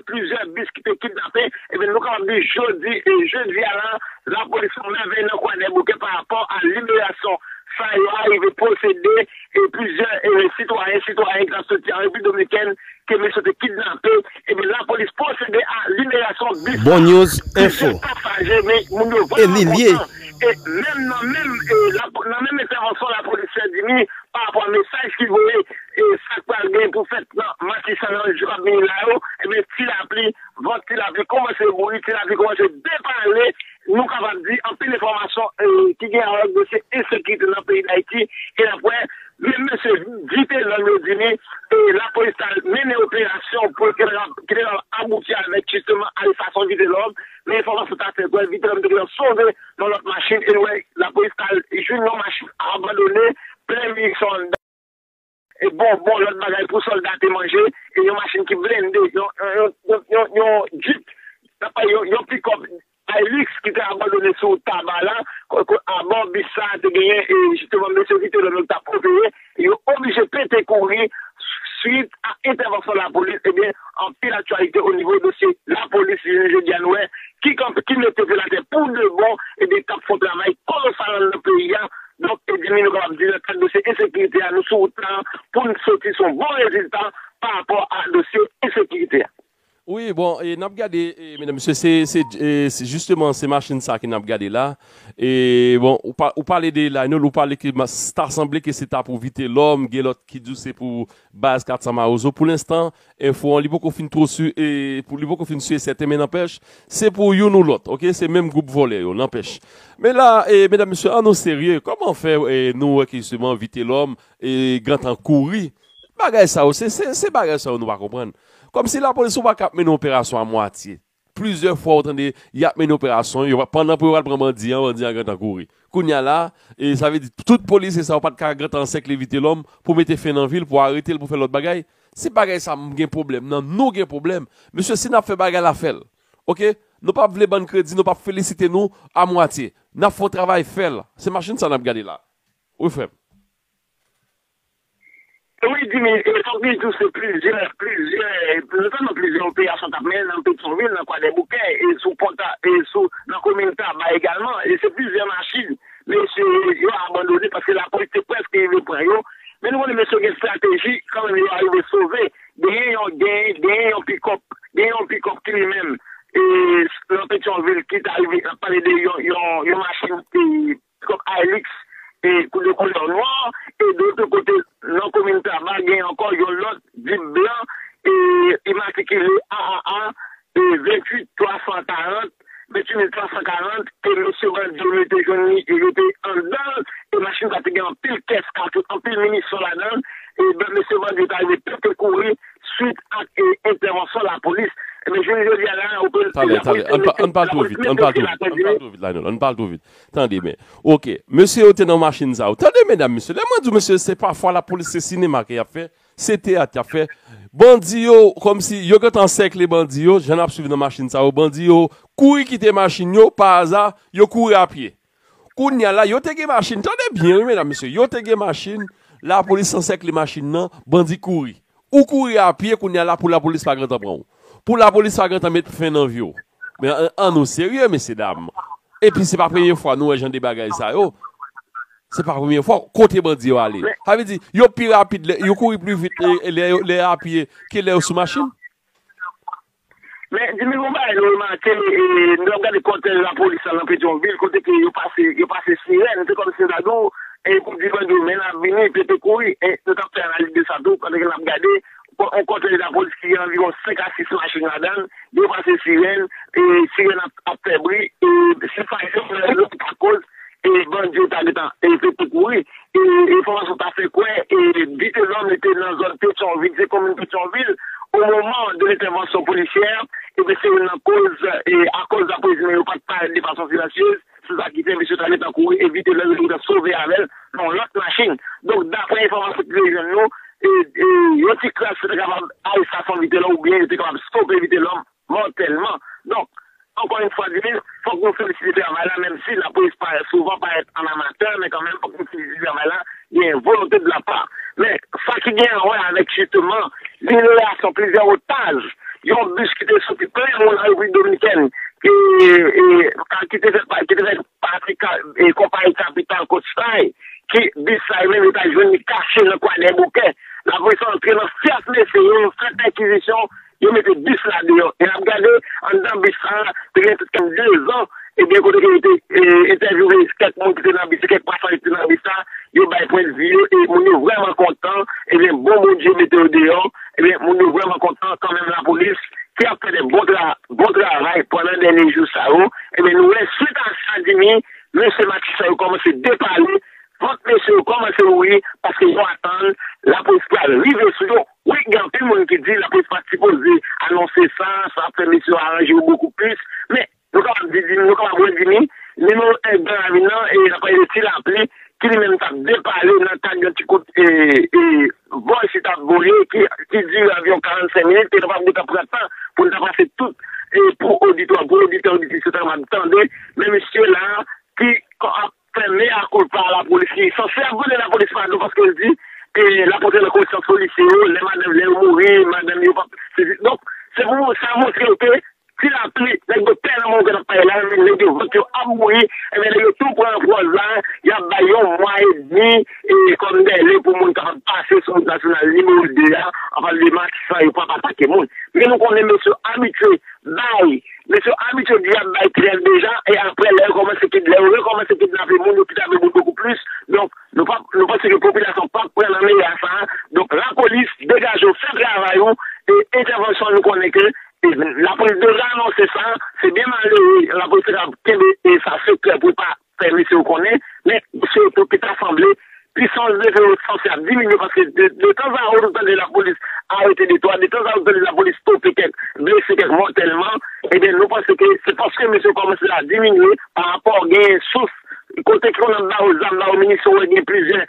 plizyè bis ki te kidnape, ebyen nou kapab di jodi jedi a la, lapolis fè yon mèvèy nan Kwadèboukè pa rapò a liberasyon sa yo arive posede plizyè sitwayen, sitwayèn ki t ap soti an Repiblik Dominikèn ke mis yo te kidnape, ebyen lapolis posede a liberasyon bis sa a, plizyè pasaje men moun yo vrèman kontan e menm nan menm entèvansyon lapolis fè di ni. Pa rapò a mesaj ki voye e sa k pral gen pou fèt nan matisan nan jou k ap vini la yo, ebyen ti lapli, vant ti lapli kòmanse bouyi, ti lapli kòmanse depale, nou kapab di anpil enfòmasyon ki gen a wè ak dosye ensekirite nan peyi Dayiti e n ap wè menm mesye di te zam yo di li e lapolis ta mennen operasyon pou ki te kapab abouti avèk jisteman arestasyon Vitelòm men enfòmasyon ta fè kwè Vitelòm te gentan sove yon lòt machin e l wè lapolis ta al jwenn yon machin abandone plen minisyon anndan e bonbon, lòt bagay pou sòlda te manje e yon machin ki blende, yon Jeep, nan pa yon pikòp Hilux ki te abandone sou Taba la, abò bis sa te genyen jisteman mesye ki te lò yo t ap opere. e yo oblije pete kouri swit a entèvansyon lapolis, ebyen anpil aktyalite o nivo dosye lapolis jounen jodi a nou wè ki kanpe, ki mete pye l atè pou de bon, ebyen k ap fon travay kolosal anndan peyi a, donk ebyen mi nou kapab di nan kad dosye ensekirite a nou sou wout la pou n soti s on bon rezilta pa rapò a dosye ensekirite a. Wi bon e nap gade e medam mesye se se se jisteman se machin sa ke nap gade la e bon ou pa ou pale de Lionel ou pale ke mas ta sanble ke se ta pou vitelòm gen lòt ki di w se pou baz 400 mawozo pou lenstan enfo an li poko fin two si e pou li poko fin si e sèten men nanpèch se pou youn ou lòt ok se menm gwoup vòlè yo nanpèch men la e medam mesye an nou serye kòman fè e nou wè ke jisteman vitelòm e gentan kouri bagay sa yo se se se bagay sa yo nou pa konprann Kòmsi lapolis ou pa kap mennen operasyon a mwatye. Plizyè fwa ou tande yap mennen operasyon yo pandan pou yo al pran bandi an bandi an gentan kouri. Kounya la e sa vle di tout polisye sa yo pat ka gentan ansèkle Vitelòm pou mete fen nan vil pou aretel pou fè lòt bagay. Se bagay sa m gen pwoblèm nan nou gen pwoblèm. Mesye si nap fè bagay la fèl ok nou pap vle bann kredi nou pap felisite nou a mwatye nap fon travay fèl se machin sa nap gade la wi frèm. Wi Jimmy, e fòk nou di tou se plizyè, plizyè, notèlman plizyè operasyon k ap mennen nan Petyonvil, nan Kwadèboukè, e sou pò ta, e sou, nan komin Taba egalman, e se plizyè machin mesye yo abandone paske lapolis te prèske rive pran yo, men nou konnen mesye yo gen estrateji, kanmenm yo arive sove, genyen yon, genyen, genyen yon pikòp, genyen yon pikòp ki li menm, e, nan Petyonvil ki t arive, n ap pale de yon, yon, yon machin ki. Kòk Ailix e kou de koulè nwa e de lote kote nan komin Taba gen ankò yon lòt Jeep blan e imatrikile AAA 28 340, 28340 ke mesye bandi yo mete jwenn li e yo te anndan l e machin sa te gen anpil kès katouch, anpil minisyon ladan l e blan mesye bandi yo ta rive pete kouri swit ak entèvansyon lapolis. Ebyen jounen jodi a la lapolis mete lapolis mete sou la kote li. Tande byen. Ok. Mesye yo te nan machin sa yo. Tande medam mesye. Lè mwen di w mesye se pa fwa lapolis se sinema ke y ap fè. Se teyat y ap fè. Bandi yo kòm si yo gentan ansèkle bandi yo. Jan n ap swiv nan machin sa yo. Bandi yo kouri kite machin yo. Pa aza yo kouri a pye. Kounye a la yo te gen machin. Tande byen wi medam mesye. Yo te gen machin. Lapolis ansèkle machin nan. Bandi kouri. Ou kouri a pye kounya la pou lapolis pa gentan pran ou. Pou lapolis pa gentan met fen nan vi w. Men an nou serye mesye dam. Epi se pa premye fwa nou wè jan de bagay sa yo. Se pa premye fwa. Kote bandi yo ale? Sa vle di yo pi rapid, yo kouri pli vit lè a pye ke lè yo sou machin? Men, di nou yon bagay nou remake, nou t ap gade kòtèj lapolis la nan Petyonvil, kote ke yo pase, yo pase sirèn, se kòmsi yo ta di w, e pou di bandi yo, men n ap vini, pete kouri, e nou t ap fè analiz de sa tou, pandan ke n ap gade, yon kòtèj lapolis ki gen anviwon 5 a 6 machin ladan l, yo pase sirèn, e sirèn ap fè bri, e se fayton, se fayton pou pa koz, e bandi yo ta gentan fè tout mouri, e enfòmasyon ta fè kwè e Vitelòm li te nan zòn Petyonvil, se komin Petyonvil o moman de lentèvansyon polisyè, ebyen se youn nan koz e akòz lapolismen yo pat parèt de fason silansyez, se sa ki fè misye ta gentan kouri e Vitelòm yo te gentan sove avèl nan yon lòt machin. Donk daprè enfòmasyon ki te jwenn nou, e yon ti kras yo te kapab arestasyon Vitelòm oubyen yo te kapab stope Vitelòm Mòtèlman. Donk, ankò yon fwa di plis, fòk nou felisite travay la menm si lapolis pa souvan parèt an amatè men kanmenm fòk nou felisite travay la genyen volonte de la part. Men, sa ki genyen a wè avèk jisteman liberasyon plizyè otaj yon bis ki te soti plen moun an Repiblik Dominikèn ki ki te fè ki te fè pati ka konpayi kapital Coastline ki bis sa yo menm yo ta jwenn li kache nan Kwadèboukè. Lapolis antre nan fyèf mesye yo, yo fè pèkizisyon Yo mete bis la deyò e n ap gade anndan bis sa a te gen kèk tan, dezan, e gen kote ke yo te entèvyouve kèk moun ki te nan bis, kèk pasaje ki te nan bis la, yo bay pwendvi yo e moun yo vrèman kontan, ebyen bon Bondye mete yo deyò, ebyen moun yo vrèman kontan kanmenm lapolis ki ap fè de bon travay pandan dènye jou sa yo, ebyen nou wè swit a sa Jimmy, mesye matisan yo kòmanse depale, vant mesye yo kòmanse ouvri paske yo atann lapolis pral rive sou yo. Wi gen anpil moun ki di lapolis pat sipoze anonse sa, sa ap fè mesye yo aranje yo bokou plis, men nou kapab di di, nou kapab redi ni, nimewo 1 gran ravin nan e nan pale de ti lapli ki li menm tap depale nan kad yon ti kout e e vòl si tap vole ki ki dire anviwon 45 minit te kapab gentan pran tan poun ta pase tout e pou oditwa pou oditè oditris yo ta kapab tande men mesye la ki ap fè mea culpa a lapolis li sanse ap mande lapolis padon paske l di l ap antre nan konsyans polisye yo lè madanm lè yo mouri madanm yo pap sezi donk se pou sa montre w ke ti lapli nèg yo pè nan moman ke n ap pale la men nèg yo vant yo ap bouyi enben nèg yo tou pran pòz la y ap bay yon mwa edmi kòm dèle pou moun kapab pase sou wout nasyonal nimewo 2 a an pale de matisan yo pap atake moun men nou konnen mesye abitye bay Nèg yo abitye di y ap bay trèv deja e aprè lè yo kòmanse kid lè yo rekòmanse kidnape moun yo kidnape moun bokou plis donk nou pa nou panse ke popilasyon an pap pran nan meyè sa a donk lapolis degaje w fè travay ou e entèvansyon nou konnen ke lapolis deja anonse sa se byen malere lapolis te kapab kenbe sa sekrè pou l pa fè mesye yo konnen, men mesye yo tou ki ta sanble pisans leve yo san se ap diminye paske de tan zan ou tande lapolis arete de twa, de tan zan ou tande lapolis stope kèk blese kèk mòtèlman, ebyen nou panse ke se paske mesye yo kòmanse a diminye pa rapò gen sous kote ki konn ap ba yo zam, ba yo minisyon, ou wè gen plizyè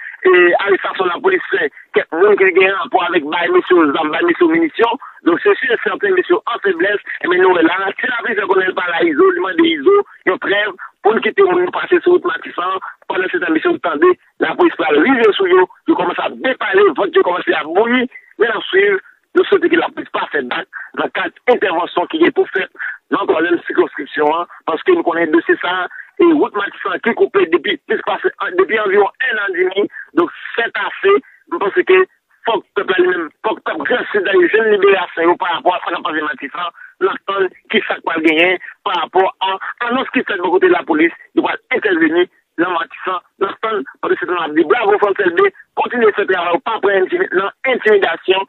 arestasyon lapolis fè kèk moun ki gen rapò avèk bay mesye yo zam, bay mesye yo minisyon, donk se si e sèten mesye yo an feblès, ebyen nou wè la, ti lapli fè konnen l pa la izo, li mande izo. yon trèv pou n kite moun yo pase sou wout Matisan an, pandan se tan misye yo tande lapolis pral rive sou yo, yo kòmanse ap depale, vant yo kòmanse ap bouyi, men n ap swiv, nou swete ke lapolis pa fè bak nan kad entèvansyon ki gen pou fèt nan twazèm sikonskripsyon an, paske nou konnen dosye sa a, e wout Matisan an ki koupe depi plis pase, depi anviwon enn an demi, donk sètase, nou panse ke Fòk pèp la li menm, fòk pèp Gran Sid la li jwenn liberasyon yo parapò a sa k ap pase Matisan, n ap tann ki sa k pral genyen parapò a anons ki fèt bò kote lapolis yo pral entèveni nan Matisan, n ap tann pandan se tan an n ap di bravo Frantz Elbé kontinye fè travay ou pa pran nan entimidasyon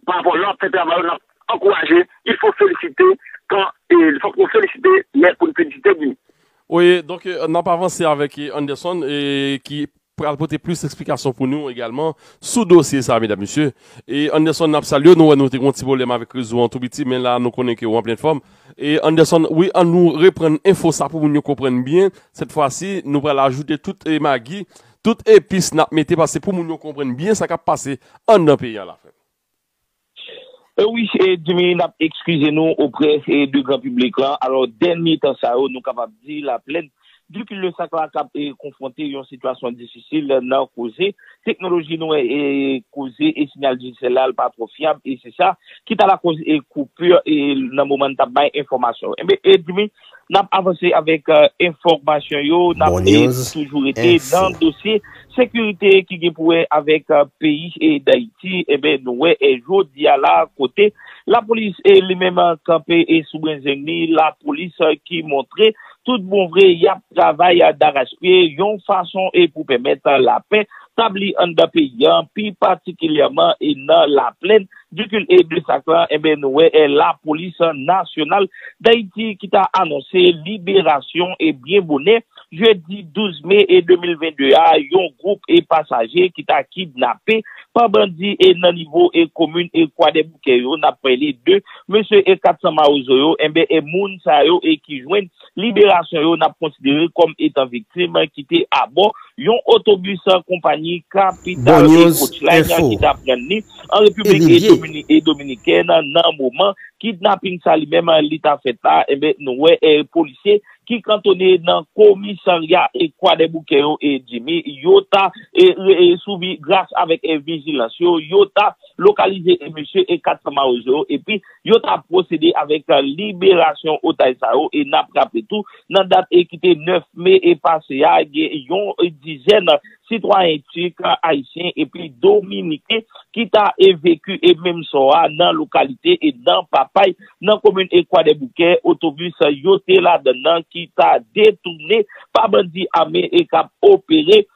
parapò lè w ap fè travay ou n ap ankouraje il fo felisite kan e fòk nou felisite lè pou n felisite di. Oye donk n ap avanse avèk Anderson ki pral pote plis eksplikasyon pou nou egalman sou dosye sa medam mesye e Anderson nap salyew nou wè nou te gon ti pwoblèm avèk rezo an tou piti men la nou konnen ke ou an plèn fòm e Anderson wi an nou reprann enfo sa pou moun yo konprann byen sèt fwa si nou pral ajoute tout magi tout epis nap mete paske pou moun yo konprann byen sa kap pase anndan peyi an la frèm. Wi Djimy n ap ekskize nou oprè de gran piblik la. Alò dènye tan sa yo nou kapab di laplèn di kildesak la kab konfwonte yon sitiyasyon difisil nan koze teknoloji nou wè koze e sinyal dijitel la l pa twò fyab e se sa ki ta lakoz e koupi nan moman n t ap bay enfòmasyon. Enben Djimy. Nap avanse avèk enfòmasyon yo, nap toujou rete nan dosye sekirite ki gen pou wè avèk peyi Dayiti, enben nou wè jodi a la kote lapolis li menm kanpe sou brenzenn li, lapolis ki montre tout bon vre yap travay darachpye yon fason pou pèmèt lapè tabli anndan peyi an, pi patikilyèman nan laplèn. Dikul e Blesak la, enben nou wè e Lapolis Nasyonal Dayiti ki ta anonse liberasyon e byen bonè jedi 12 me 2022 a yon gwoup e pasaje ki ta kidnape pa bandi e nan nivo e komin e Kwadèboukè yo, n ap pale de mesye e 400 mawozo yo, enben e moun sa yo e ki jwenn. liberasyon yo n ap konsidere kòm etan viktim ki te abò yon otobis konpayi Capital e Coachline ki t ap rann li an Repiblik Dominikèn nan moman kidnaping sa li menm li t ap fèt la, enben nou wè polisye ki kantone nan komisarya Kwadèboukè yo Jimmy yo ta souvi gras avèk vijilans yo, yo ta lokalize mesye 400 mawozo yo epi. yo ta pwosede avèk liberasyon otaj sa yo e nap raple tou nan dat e ki te 9 me e pase a gen yon dizèn sitwayen Tik, Ayisyen epi Dominiken ki ta evekye e menm sò a nan lokalite e nan Papay nan komin e Kwadèboukè otobis yo te ladann nan ki ta detounen pa bandi ame e kap opere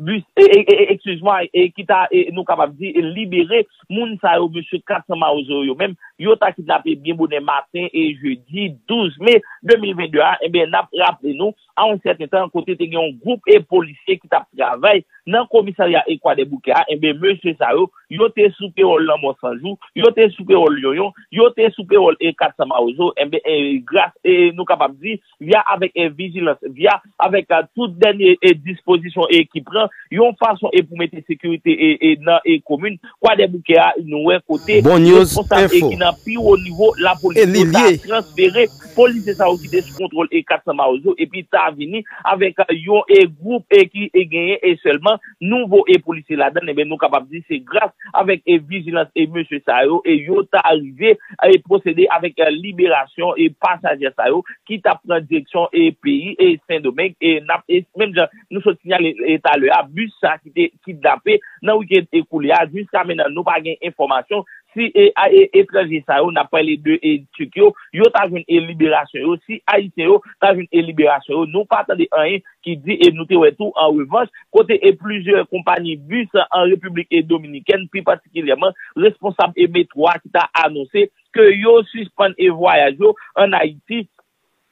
bus excuse moi e ki ta nou kapab di libere moun sa yo mesye 400 mawozo yo menm yo ta kidnape byen bonè maten e jedi 12 me 2022 a enben nap raple nou a yon sèten tan kote te gen yon gwoup e polisye ki tap travay nan komisarya e kwadèboukè a enben mesye sa yo yo te sou pewòl lanmò sanjou yo te sou pewòl yonyon yo te sou pewòl e 400 mawozo enben e gras e nou kapab di. via avèk vijilans, via avèk tout dènye dispozisyon ki pran, yon fason e pou mete sekirite nan komin Kwadèboukè a, nou wè kote responsab e ki nan pi wo nivo lapolis yo ta transfere polisye sa yo ki te sou kontwòl 400 mawozo epi ta vini avèk yon gwoup ki genyen sèlman. nou vo e polisye ladann e ben nou kapab di se gras avèk e vijilans e mesye sa yo e yo ta rive e pwosede avèk liberasyon e pasajè sa yo ki tap pran direksyon e peyi e sendomeng e nap e menm jan nou sot sinyale e talè a bis sa ki te kidnape nan wikend e koulye a jiska menan nou pa gen enfòmasyon si e a e etranje sa yo nap pale de e turk yo yo ta jwenn e liberasyon yo si ayisyen yo ta jwenn e liberasyon yo nou pa tande anyen ki di e nou te wè tou an revanch kote e plizyè konpani bis an Repiblik e Dominikèn pi patikilyèman responsab e metro a ki ta anonse ke yo sispann e vwayaj yo an Ayiti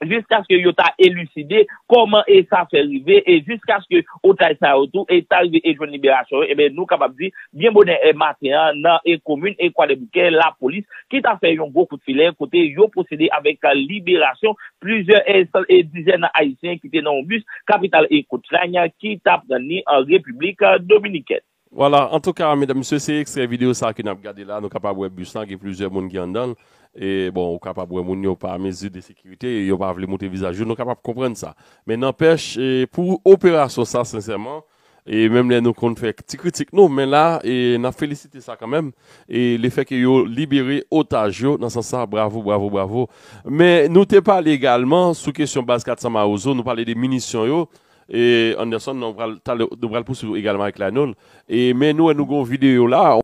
jiskaske yo ta eliside kòman e sa fè rive e jiskaske otaj sa yo tou e ta rive e jwenn liberasyon yo e ben nou kapab di byen bonè e maten an nan e komin e kwadèboukè lapolis ki ta fè yon gwo kout filè kote yo pwosede avèk liberasyon plizyè dizèn Ayisyen ki te nan yon bis kapital Eko Trany ki ta pran ni an Repiblik Dominikèn. Vwala, antouka, medam, mesye, se ekstrè videyo sa ke n ap gade la, nou kapab wè bis lan gen plizyè moun ki anndan l, e, bon, ou kapab wè moun yo pa mezi de sekirite, yo pa vle moutre vizaj yo, nou kapab konprann sa. Men nanpèch, pou operasyon sa, sensèman, e menm lè nou konn fè ti kritik nou men la e nap felisite sa kanmenm e le fè ke yo libere otaj yo nan sans sa bravo bravo bravo men nou te pale egalman sou kesyon baz 400 mawozo nou pale de minisyon yo e Anderson nou pral talè nou pral pouswiv egalman avèk Laynol e men nou wè nou gon videyo la.